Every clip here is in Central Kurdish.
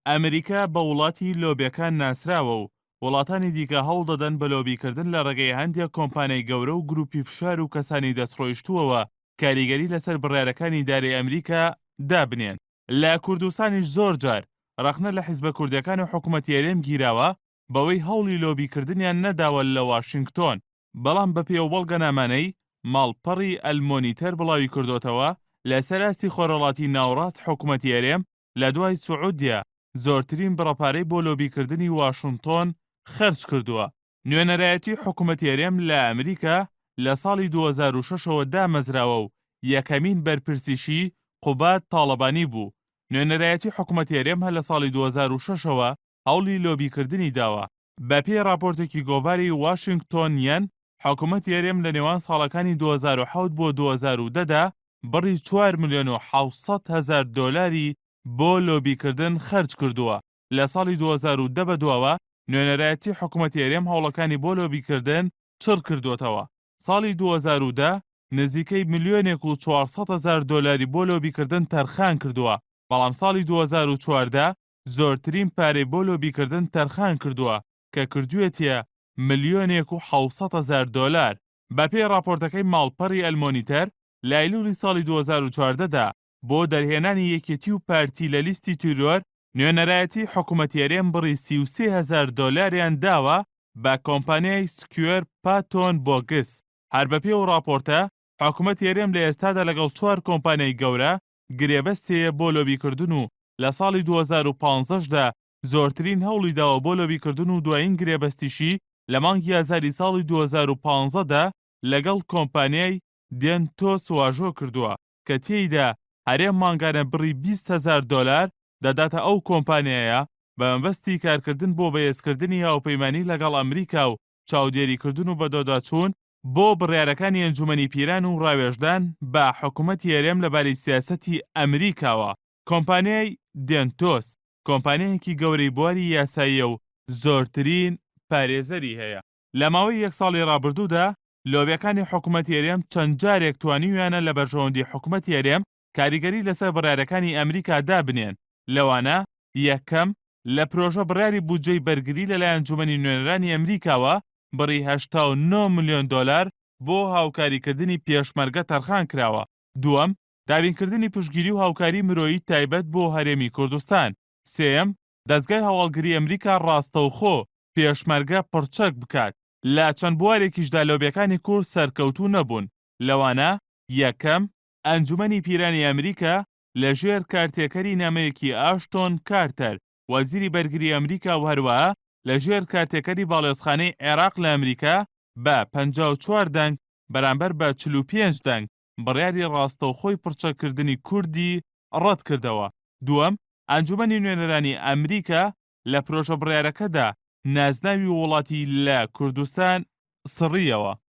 ئەمریکا بە وڵاتی لۆبیەکان ناسراوە و وڵاتانی دیکە هەوڵ دەدەن بە لۆبیکردن لە ڕێگەی هەندێک کۆمپانیای گەورە و گروپی فشار و کەسانی دەستڕۆیشتووەوە کاریگەری لەسەر بڕیارەکانی ئیدارەی ئەمریکا دابنێن. لە کوردستانیش زۆر جار ڕەخنە لە حیزبە کوردیەکان و حکومەتی هەرێم گیراوە بەوەی هەوڵی لۆبیکردنیان نەداوە لە واشینگتۆن، بەڵام بە پێی ئەو بەڵگەنامانەی ماڵپەڕی ئەلمۆنیتەر بڵاویکردۆتەوە، لەسەر ئاستی خۆرهەڵاتی ناوڕاست حکومەتی هەرێم لە دوای سعودیە زۆرترین بڕە پارەی بۆ لۆبی کردنی واشنتۆن خەرج کردووە. نوێنەرایەتی حکومەتی هەرێم لە ئەمریکا لە ساڵی دوو هەزار و شەش ەوە دامەزراوە و یەکەمین بەرپرسیشی قوباد تاڵەبانی بوو. نوێنەرایەتی حکومەتی هەرێم هەر لە ساڵی دوو هەزار و شەش ەوە هەوڵی لۆبیکردنی داوە. بەپێی ڕاپۆرتێکی گۆڤاری واشینگتۆنیەن، حکومەتی هەرێم لە نێوان ساڵەکانی دوو هەزار و حەوت بۆ دوو هەزار و دە دا بڕی چوار ملیۆن و حەوت سەد هەزار دۆلاری بۆ لۆبیکردن خەرج کردووە، لە ساڵی دوو هەزار و دە بەدواوە نوێنەرایەتی حکومەتی هەرێم هەوڵەکانی بۆ لۆبیکردن چڕ کردووەتەوە، ساڵی دوو هەزار و دە نزیکەی ملیۆنێک و چوار سەد هەزار دۆلاری بۆ لۆبیکردن تەرخان کردووە، بەڵام ساڵی دوو هەزار و چواردە زۆرترین پارەی بۆ لۆبیکردن تەرخان کردووە کە کردوویەتیە ملیۆنێک و حەوت سەد هەزار دۆلار. بەپێی ڕاپۆرتەکەی ماڵپەڕی ئەلمۆنیتەر، لە ئەیلوولی ساڵی دوو هەزار و چواردە دا بۆ دەرهێنانی یەکێتی و پارتی لە لیستی تیرۆر، نوێنەرایەتیی حکوومەتی هەرێم بڕی سی و سێ هەزار دۆلاریان داوە بە کۆمپانیای سکوێر پاتۆن بۆگس. هەر بەپێی ئەو ڕاپۆرتە، حکوومەتی هەرێم لە ئێستادا لەگەڵ چوار کۆمپانیای گەورە گرێبەستێیە بۆ لۆبیکردن و لە ساڵی دوو هەزار و پازدە دا زۆرترین هەوڵی داوە بۆ لۆبیکردن و دوایین گرێبەستیشی لە مانگی ئازاری ساڵی دوو هەزار و پازدە دا لەگەڵ کۆمپانیای دێنتۆس واژۆ کردووە کە تێیدا هەرێم مانگانە بڕی بیست هەزار دۆلار دەداتە ئەو کۆمپانیایە بە مەبەستی کارکردن بۆ بەهێزکردنی هاوپەیمانی لەگەڵ ئەمریکا و چاودێریکردن و بەدواداچوون بۆ بڕیارەکانی ئەنجومەنی پیران و ڕاوێژدان بە حکومەتی هەرێم لەبارەی سیاسەتی ئەمریکاوە، کۆمپانیای، دێنتۆس، کۆمپانیایەکی گەورەی بواری یاساییە و زۆرترین، پارێزەری هەیە، لە ماوەی یەک ساڵی ڕابردوودا لۆبیەکانی حکومەتی هەرێم چەند جارێک توانیویانە لە بەرژەوەندی حکومەتی هەرێم کاریگەری لەسەر بڕیارەکانی ئەمریکا دابنێن، لەوانە، یەکەم، لە پرۆژە بڕیاری بودجەی بەرگری لەلای ئەنجومەنی نوێنەرانی ئەمریکاوە بڕی هەشتا و نۆ ملیۆن دۆلار بۆ هاوکاریکردنی پێشمەرگە تەرخان کراوە، دووەم، دابینکردنی پشتگیری و هاوکاری مرۆیی تایبەت بۆ هەرێمی کوردستان، سێیەم، دەزگای هەواڵگری ئەمریکا ڕاستەوخۆ پێشمەرگە پڕچەک بکات، لە چەند بوارێکیشدا لۆبیەکانی کورد سەرکەوتوو نەبوون، لەوانە، یەکەم، ئەنجومەنی پیرانی ئەمریکا لە ژێر کارتێکەری نامەیەکی ئاشتۆن کارتەر وەزیری بەرگری ئەمریکا و هەروەها لە ژێر کارتێکەری باڵیۆزخانەی عێراق لە ئەمریکا بە پەنجا و چوار دەنگ بەرامبەر بە چل و پێنج دەنگ بڕیاری ڕاستەوخۆی پڕچەک کردنی کوردی ڕەت کردەوە. دووەم، ئەنجومەنی نوێنەرانی ئەمریکا لە پرۆژە بڕیارەکەدا نازناوی وڵاتی لە کوردستان سڕییەوە.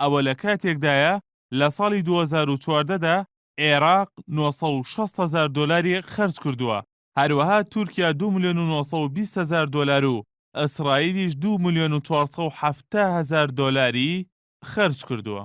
ئەوە لە کاتێکدایە لە ساڵی دوو هەزار و چواردە دا عێراق نۆ سەد و شەست هەزار دۆلاری خەرج کردووە، هەروەها تورکیا دوو ملیۆن و نۆ سەد و بیست هەزار دۆلار و ئیسرائیلیش دوو ملیۆن و چوار سەد و حەفتا هەزار دۆلاری خەرج کردووە.